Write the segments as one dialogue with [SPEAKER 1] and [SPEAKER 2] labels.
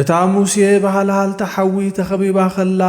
[SPEAKER 1] እታ ሙሴ ብሃልሃልታ ሓዊ ተኸቢባ ኸላ፣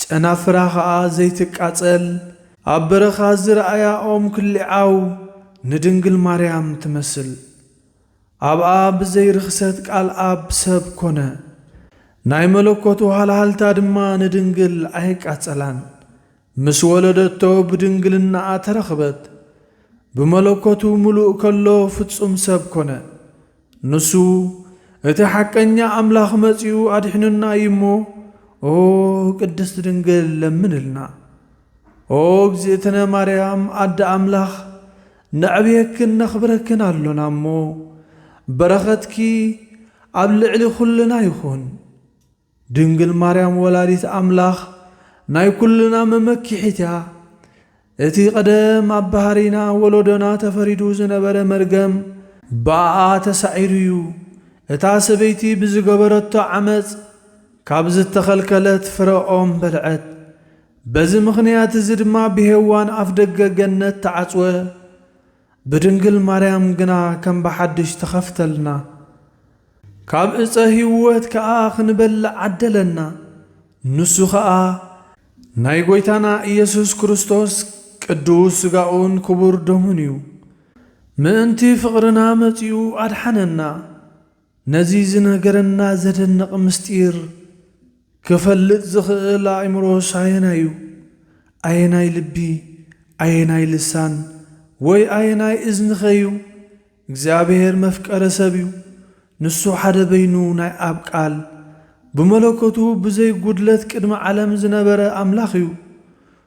[SPEAKER 1] ጨናፍራ ኸኣ ዘይትቃጸል፣ ኣብ በረኻ ዝረኣያ ኦም ክሊዓው፣ ንድንግል ማርያም ትመስል። ኣብኣ ብዘይ ርኽሰት ቃል ኣብ ሰብ ኮነ። ናይ መለኮቱ ሃልሃልታ ድማ ንድንግል ኣየቃጸላን። ምስ ወለደቶ ብድንግልናኣ ተረኽበት። ብመለኮቱ ምሉእ ከሎ ፍጹም ሰብ ኮነ። ንሱ እቲ ሓቀኛ ኣምላኽ መጺኡ ኣድሒኑና እዩ እሞ ኦ ቅድስት ድንግል ለምንልና። ኦ እግዝእትነ ማርያም ኣደ ኣምላኽ ነዕብየክን ነኽብረክን ኣሎና እሞ በረኸትኪ ኣብ ልዕሊ ኩልና ይኹን። ድንግል ማርያም ወላዲት ኣምላኽ ናይ ኩልና መመኪሒት እያ። እቲ ቀደም ኣብ ባህሪና ወለዶና ተፈሪዱ ዝነበረ መርገም ብኣኣ ተሳዒሩ እዩ። እታ ሰበይቲ ብዝገበረቶ ዓመጽ ካብ ዝተኸልከለት ፍረ ኦም በልዐት። በዚ ምኽንያት እዚ ድማ ብሄዋን ኣፍደገ ገነት ተዓጽወ። ብድንግል ማርያም ግና ከም ብሓድሽ ተኸፍተልና፣ ካብ ዕፀ ህይወት ከዓ ኽንበልዕ ዓደለና፣ ንሱ ኸዓ ናይ ጐይታና ኢየሱስ ክርስቶስ ቅዱስ ሥጋኡን ክቡር ደሙን እዩ፣ ምእንቲ ፍቕርና መፂኡ ኣድሓነና። ነዚ ዝነገረና ዘደንቕ ምስጢር ክፈልጥ ዝኽእል ኣእምሮስ ኣየናይ'ዩ? ኣየናይ ልቢ፣ ኣየናይ ልሳን፣ ወይ ኣየናይ እዝኒኸ'ዩ? እግዚኣብሔር መፍቀሪ ሰብ'ዩ። ንሱ ሓደ በይኑ ናይ ኣብ ቃል፣ ብመለኮቱ ብዘይ ጉድለት ቅድሚ ዓለም ዝነበረ ኣምላኽ'ዩ።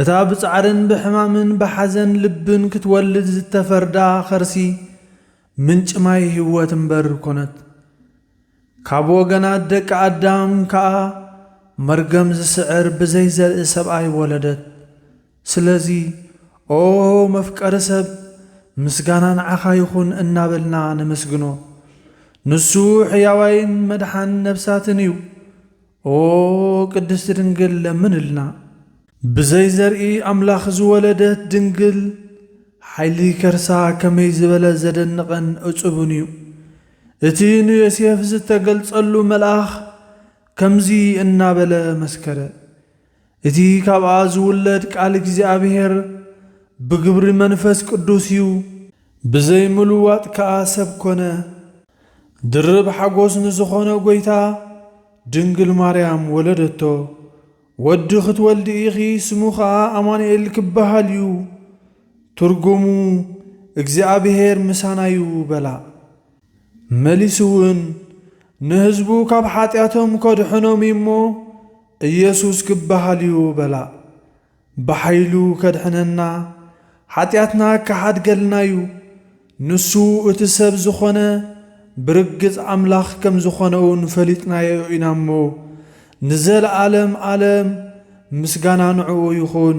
[SPEAKER 1] እታ ብጻዕርን ብሕማምን ብሓዘን ልብን ክትወልድ ዝተፈርዳ ኸርሲ ምንጪ ማይ ህይወት እምበር ኮነት። ካብ ወገናት ደቂ ኣዳም ከኣ መርገም ዝስዕር ብዘይ ዘርኢ ሰብኣይ ወለደት። ስለዚ ኦ መፍቀሪ ሰብ ምስጋና ንዓኻ ይኹን እናበልና ነመስግኖ። ንሱ ሕያዋይን መድሓን ነብሳትን እዩ። ኦ ቅድስቲ ድንግል ለምንልና። ብዘይ ዘርኢ ኣምላኽ ዝወለደት ድንግል ሓይሊ ከርሳ ከመይ ዝበለ ዘደንቕን እጹብን እዩ። እቲ ንዮሴፍ ዝተገልጸሉ መልኣኽ ከምዚ እናበለ መስከረ፣ እቲ ካብኣ ዝውለድ ቃል እግዚኣብሔር ብግብሪ መንፈስ ቅዱስ እዩ። ብዘይ ምልዋጥ ከኣ ሰብ ኮነ። ድርብ ሓጎስ ንዝኾነ ጐይታ ድንግል ማርያም ወለደቶ። ወዲ ክትወልዲ ኢኺ ስሙ ከኣ ኣማኑኤል ክበሃል እዩ፣ ትርጉሙ እግዚኣብሔር ምሳና እዩ በላ። መሊሱውን ንህዝቡ ካብ ሓጢኣቶም ከድሕኖም እዩ እሞ ኢየሱስ ክበሃል እዩ በላ። ብሓይሉ ከድሕነና ሓጢኣትና ክሓድገልና እዩ። ንሱ እቲ ሰብ ዝኾነ ብርግጽ ኣምላኽ ከም ዝኾነውን ፈሊጥናዮ ኢና እሞ ንዘለዓለም ኣለም ምስጋና ንዕኡ ይኹን።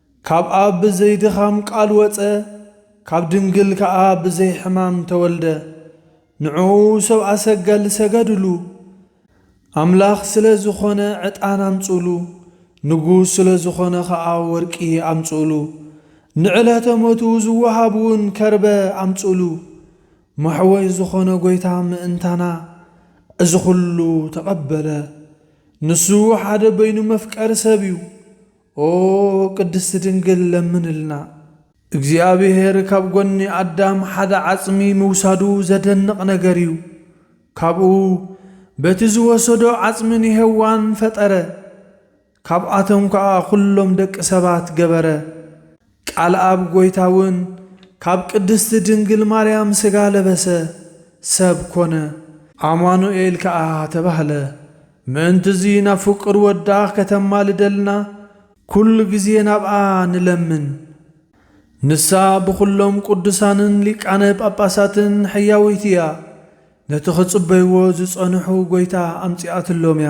[SPEAKER 1] ካብ ኣብ ብዘይ ድኻም ቃል ወጸ፣ ካብ ድንግል ከኣ ብዘይ ሕማም ተወልደ። ንዕኡ ሰብኣ ሰገል ሰገዱሉ። ኣምላኽ ስለ ዝኾነ ዕጣን ኣምጽኡሉ፣ ንጉስ ስለ ዝኾነ ከኣ ወርቂ ኣምጽኡሉ። ንዕለተ ሞቱ ዝወሃብውን ከርበ ኣምጽኡሉ። መሕወይ ዝኾነ ጎይታ ምእንታና እዚ ኩሉ ተቐበለ። ንሱ ሓደ በይኑ መፍቀሪ ሰብ እዩ። ኦ ቅድስቲ ድንግል ለምንልና። እግዚኣብሔር ካብ ጎኒ ኣዳም ሓደ ዓጽሚ ምውሳዱ ዘደንቕ ነገር እዩ። ካብኡ በቲ ዝወሰዶ ዓጽሚ ንሔዋን ፈጠረ። ካብኣቶም ከኣ ኩሎም ደቂ ሰባት ገበረ። ቃልኣብ ጎይታ ውን ካብ ቅድስቲ ድንግል ማርያም ስጋ ለበሰ፣ ሰብ ኮነ። ኣማኑኤል ከኣ ተባህለ። ምእንትዚ ናብ ፍቁር ወዳ ከተማልደልና ኩሉ ግዜ ናብኣ ንለምን። ንሳ ብኹሎም ቅዱሳንን ሊቃነ ጳጳሳትን ሕያውይቲ እያ፣ ነቲ ክጽበይዎ ዝጸንሑ ጎይታ ኣምጺኣትሎም እያ።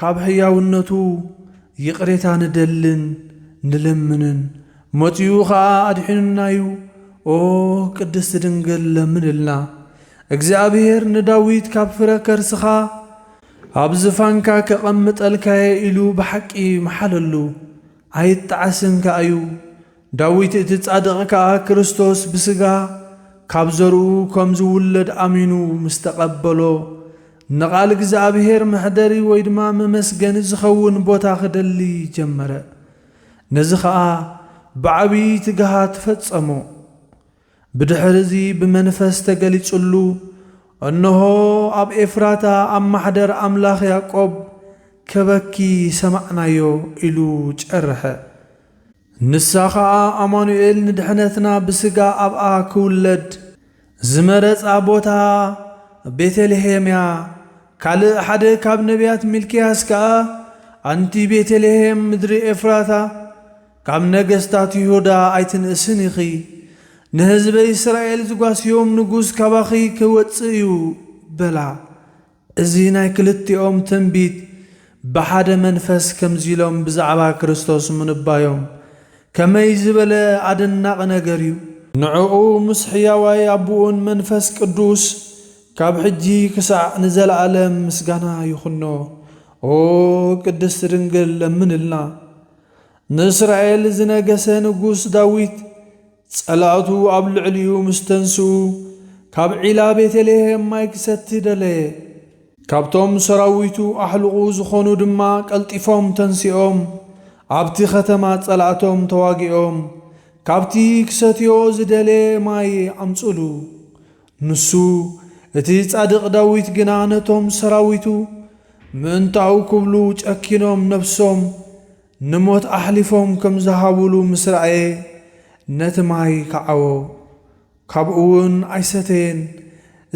[SPEAKER 1] ካብ ሕያውነቱ ይቕሬታ ንደልን ንለምንን፣ መጺኡ ኸኣ ኣድሒኑና እዩ። ኦ ቅድስቲ ድንግል ለምንልና። እግዚኣብሔር ንዳዊት ካብ ፍረ ከርስኻ ኣብ ዝፋንካ ከቐምጠልካየ ኢሉ ብሓቂ መሓለሉ። ኣይጣዓስን ከኣዩ። ዳዊት እቲ ጻድቕ ከኣ ክርስቶስ ብስጋ ካብ ዘርኡ ከም ዝውለድ ኣሚኑ ምስ ተቐበሎ፣ ንቓል እግዚኣብሄር መሕደሪ ወይ ድማ መመስገኒ ዝኸውን ቦታ ክደሊ ጀመረ። ነዚ ኸኣ ብዓብዪ ትግሃት ፈጸሞ። ብድኅር'ዚ ብመንፈስ ተገሊጹሉ፣ እንሆ፣ ኣብ ኤፍራታ ኣብ ማኅደር ኣምላኽ ያዕቆብ፣ ከበኪ ሰማዕናዮ ኢሉ ጨርሐ። ንሳ ኸኣ ኣማኑኤል ንድኅነትና ብሥጋ ኣብኣ ኪውለድ ዝመረጻ ቦታ ቤተልሔም'ያ። ካልእ ሓደ ካብ ነቢያት ሚልክያስ ከኣ፣ ኣንቲ ቤተልሔም ምድሪ ኤፍራታ፣ ካብ ነገስታት ይሁዳ ኣይትንእስን ኢኺ፣ ንህዝበይ እስራኤል ዝጓስዮም ንጉስ ካባኺ ኺወጽእ እዩ በላ። እዚ ናይ ክልቲኦም ትንቢት ብሓደ መንፈስ ከምዚ ኢሎም ብዛዕባ ክርስቶስ ምንባዮም ከመይ ዝበለ ኣደናቒ ነገር እዩ! ንዕኡ ምስ ሕያዋይ ኣቦኡን መንፈስ ቅዱስ ካብ ሕጂ ክሳዕ ንዘለኣለም ምስጋና ይኹኖ። ኦ ቅድስት ድንግል ለምንልና! ንእስራኤል ዝነገሰ ንጉስ ዳዊት፣ ጸላእቱ ኣብ ልዕሊኡ ምስ ተንስኡ፣ ካብ ዒላ ቤተልሄም ማይ ክሰቲ ደለየ። ካብቶም ሰራዊቱ ኣሕሉቑ ዝኾኑ ድማ ቀልጢፎም ተንሲኦም፣ ኣብቲ ኸተማ ጸላእቶም ተዋጊኦም፣ ካብቲ ክሰትዮ ዝደለየ ማይ ኣምጽሉ። ንሱ፣ እቲ ጻድቕ ዳዊት ግና ነቶም ሰራዊቱ፣ ምእንታኡ ክብሉ ጨኪኖም ነፍሶም ንሞት ኣሕሊፎም ከም ዝሃቡሉ ምስ ረኣየ፣ ነቲ ማይ ከዓዎ፣ ካብኡውን ኣይሰተየን፣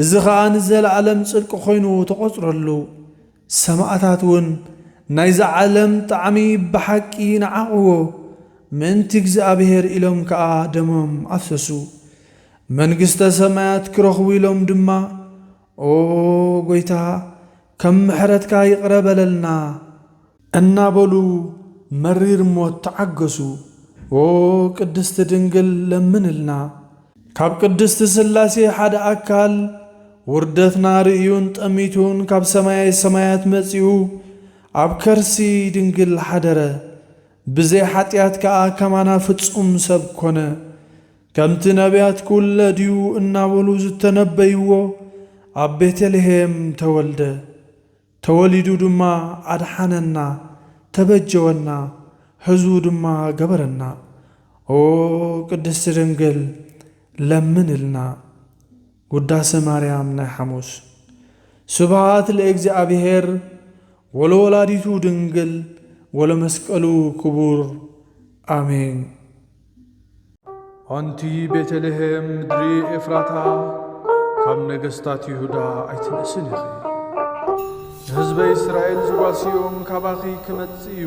[SPEAKER 1] እዚ ኸኣ ንዘለኣለም ጽድቂ ዀይኑ ተቖጽረሉ። ሰማእታት እውን ናይዛ ዓለም ጣዕሚ ብሓቂ ነዓቕዎ፣ ምእንቲ እግዚኣብሄር ኢሎም ከኣ ደሞም ኣፍሰሱ። መንግስተ ሰማያት ኪረኽቡ ኢሎም ድማ፣ ኦ ጐይታ፣ ከም ምሕረትካ ይቕረ በለልና! እናበሉ መሪር ሞት ተዓገሱ። ኦ ቅድስቲ ድንግል ለምንልና! ካብ ቅድስት ሥላሴ ሓደ ኣካል፣ ውርደትና ርእዩን ጠሚቱን ካብ ሰማየ ሰማያት መጺኡ ኣብ ከርሲ ድንግል ሓደረ፣ ብዘይ ሓጢኣት ከኣ ከማና ፍጹም ሰብ ኮነ። ከምቲ ነብያት ክውለድ እዩ እናበሉ ዝተነበይዎ ኣብ ቤተልሔም ተወልደ። ተወሊዱ ድማ ኣድሓነና ተበጀወና ህዝቡ ድማ ገበረና ኦ ቅድስቲ ድንግል ለምንልና ውዳሰ ማርያም ናይ ሓሙስ ስብሃት ለእግዚኣብሔር ወለወላዲቱ ድንግል ወለመስቀሉ ክቡር ኣሜን። ኣንቲ ቤተልሔም ምድሪ ኤፍራታ፣ ካብ ነገስታት ይሁዳ ኣይትንእስን ኢኺ። ንህዝበይ እስራኤል ዝጓስዮም ካባኺ ክመጽእ እዩ።